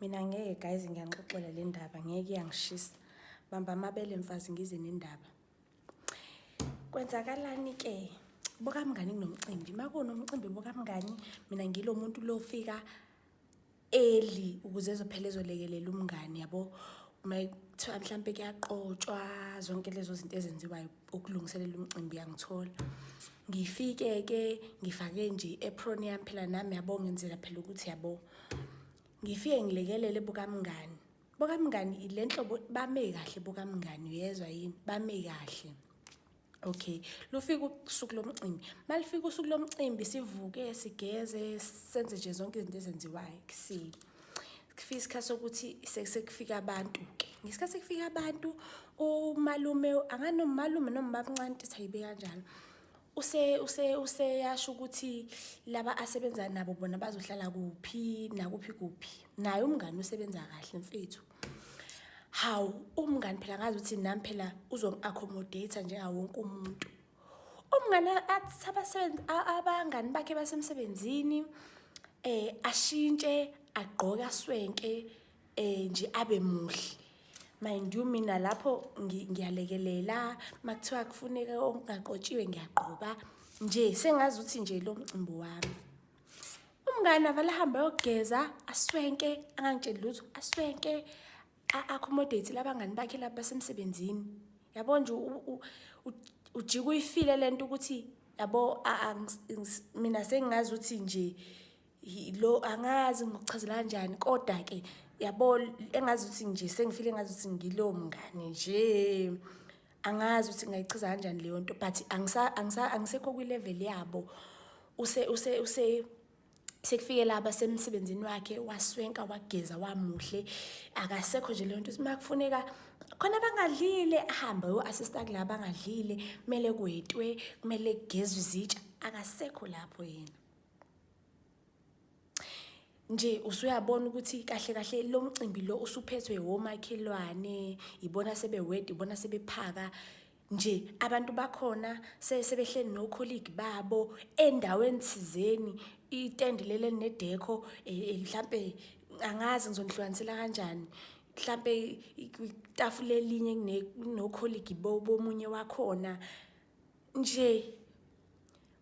mina ngeke guys ngiyanixoxela le ndaba ngeke iyangishisa bamba amabele mfazi ngize nendaba kwenzakalani-ke bokamngani kunomcimbi uma kunomcimbi bokamngani mina ngilo muntu lofika eli ukuze ezophela ezolekelela umngani yabo uma kuthiwa mhlawumpe kuyaqotshwa zonke lezo zinto ezenziwayo ukulungiselela umcimbi yangithola ngifike ke ngifake nje i-apron yami phela nami yabo ngenzela phela ukuthi yabo ngifike ngilekelele bukamngani bukamngani ile nhlobo bame kahle bukamngani uyezwa yini bame kahle Okay, lufika usuku lomcimbi. Malifika usuku lomcimbi sivuke sigeze senze nje zonke izinto ezenziwayo kusile. kufika isikhathi sokuthi sekufika abantu ke ngesikhathi sekufika abantu umalume anganomalume noma babncane ukuthi ayibe kanjalo use use useyasho ukuthi laba asebenza nabo bona bazohlala kuphi nakuphi kuphi naye umngani usebenza kahle mfethu hawu umngani phela ngazi ukuthi nami phela uzongi-accommodate njengawo wonke umuntu umngane athi abasebenzi abangani bakhe basemsebenzini eh ashintshe agqoka swenke eh nje abe muhle mind you mina lapho ngiyalekelela makuthiwa kufuneka ongaqotshiwe ngiyagqoka nje sengazi ukuthi nje lo mcimbi wami umngane avalahamba yogeza aswenke angangitsheli lutho aswenke a-accommodate labangani bakhe laba basemsebenzini yabo nje ujika uyifile lento ukuthi yabo mina sengingazi ukuthi nje lo angazi ngokuchazela kanjani kodwa ke yabo engazi ukuthi nje sengifile engazi ukuthi ngilowo mngane nje angazi ukuthi ngayichaza kanjani leyo nto but angisekho kwi-level yabo use use use sekufike laba semsebenzini wakhe waswenka wageza wamuhle akasekho nje leyo nto uma kufuneka khona bangadlile ahambe uyo-assista kula bangadlile kumele kwetwe kumele kugezwe izitsha akasekho lapho yena nje usuyabona ukuthi kahle kahle lo mcimbi lo usuphethwe womakhelwane ibona sebewedi ibona sebephaka nje abantu bakhona sebehleli nokholigi babo endaweni thizeni itende leli elinedekho e, e, mhlampe angazi ngizonihlukanisela kanjani mhlampe itafula elinye kunokholigi bomunye wakhona nje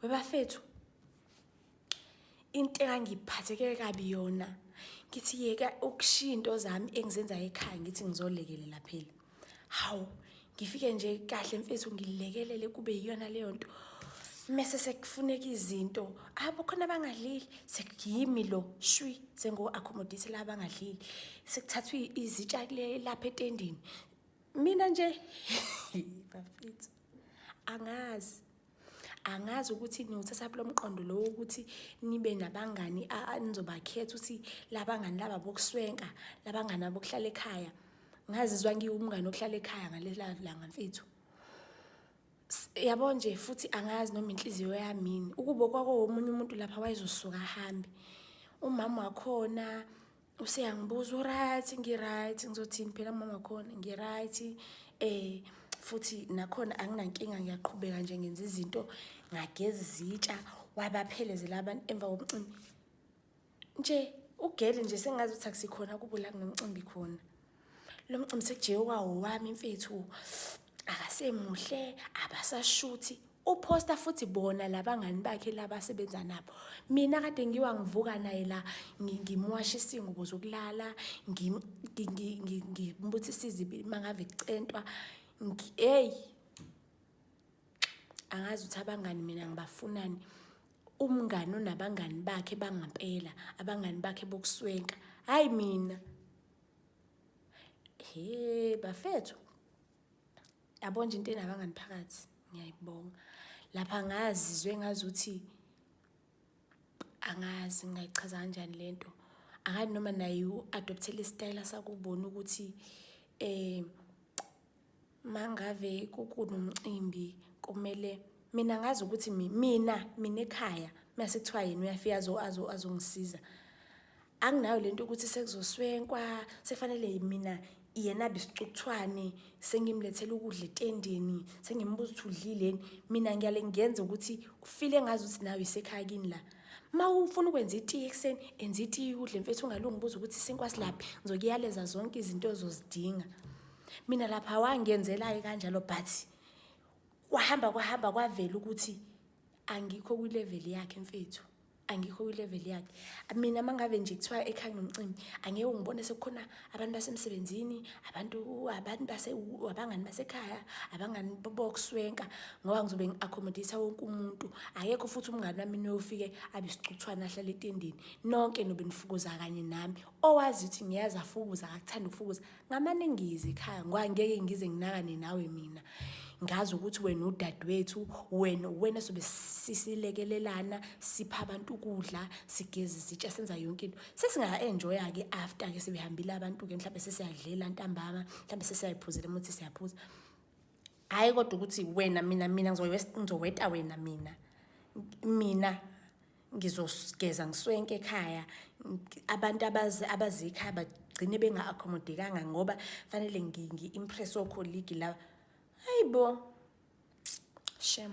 webafethu into engangiphatheke kabi yona ngithi yeka ukushiya into zami engizenzayo ekhaya ngithi ngizolekelela phela hawu ngifike nje kahle mfethu ngilekelele kube yiyona leyo nto mese sekufuneka izinto abo khona abangadlili sekuyimi lo shwi sengo-accommodate la abangadlili sekuthathwa izitsha lapha etendini mina nje bafethu angazi angazi ukuthi niwuthatha kulo mqondo lowo ukuthi nibe nabangani anizobakhetha ukuthi labangani laba bokuswenka labangani abokuhlala ekhaya ngazizwa ngiwumngane ohlala ekhaya ngalela langa mfethu yabo nje futhi angazi noma inhliziyo yamini ukubo kwako womunye umuntu lapha wayezosuka ahambe umama wakhona useyangibuza uright ngiright ngizothini phela mama wakhona ngiright eh futhi nakhona anginankinga ngiyaqhubeka nje ngenza izinto ngageza izitsha wabaphelezela abantu emva komcimbi nje ugele nje sengazi ukuthi akusikhona kubo la kunomcimbi khona lo mcimbi sekujewa wami mfethu akasemuhle abasashuthi uphosta futhi bona labangani bakhe labasebenza nabo mina kade ngiwa ngivuka naye la ngimwasha isingubo zokulala ngimbuthisa izibi mangave kucentwa hey angazi ukuthi abangani mina ngibafunani umngani onabangani bakhe bangampela abangani bakhe bokuswenka hayi mina He bafethu. Yabo nje into enabangani phakathi. Ngiyayibonga. Lapha ngazizwe ngazuthi angazi ngayichaza kanjani lento. Akani noma naye u-adoptele isitayela sakubona ukuthi eh mangave kukunomcimbi kumele mina ngazi ukuthi mina mina ekhaya mase kuthiwa yena uyafika azongisiza anginayo le nto ukuthi sekuzoswenkwa sekufanele mina yena bisicukuthwane sengimlethela ukudla etendeni sengimbuza ukuthi udlileni mina ngiyale ngenza ukuthi ufile ngazi ukuthi nawe isekhaya kini la ma ufuna ukwenza itiye ekuseni enza itiye udle mfethu ungalungibuza ukuthi isinkwa silaphi ngizokuyaleza zonke izinto ozozidinga mina lapha wangenzelayo kanjalo but kwahamba kwahamba kwavela ukuthi angikho kwilevel yakhe mfethu angikho kwilevel yakhe mina mangabe nje kuthiwa ekhaya nomcimbi angeke ngibone sekukhona abantu basemsebenzini abantu abantu base abangani basekhaya abangani bokuswenka ngoba ngizobe ngi-accommodate wonke umuntu akekho futhi umngani wami noyofike abe sicuthwana ahlale etendeni nonke nobe nifukuza kanye nami owazi ukuthi ngiyazi afukuza akakuthanda ukufukuza ngamaningizi khaya ngoba ngeke ngize nginakane nawe mina ngazi ukuthi wena udadewethu wena wena sobe sisilekelelana sipha abantu ukudla sigeze izitsha senza yonke into sesingaenjoya ke after ke sebehambile abantu ke mhlawumbe sesiyadlela ntambama mhlawumbe sesiyayiphuzela umuthi siyaphuza hhayi kodwa ukuthi wena mina mina ngizoweta wena mina mina ngizogeza ngiswenke ekhaya abantu abazikhaya bagcine benga-accommodekanga ngoba fanele ngi-impress okholigi laba hayi bo shem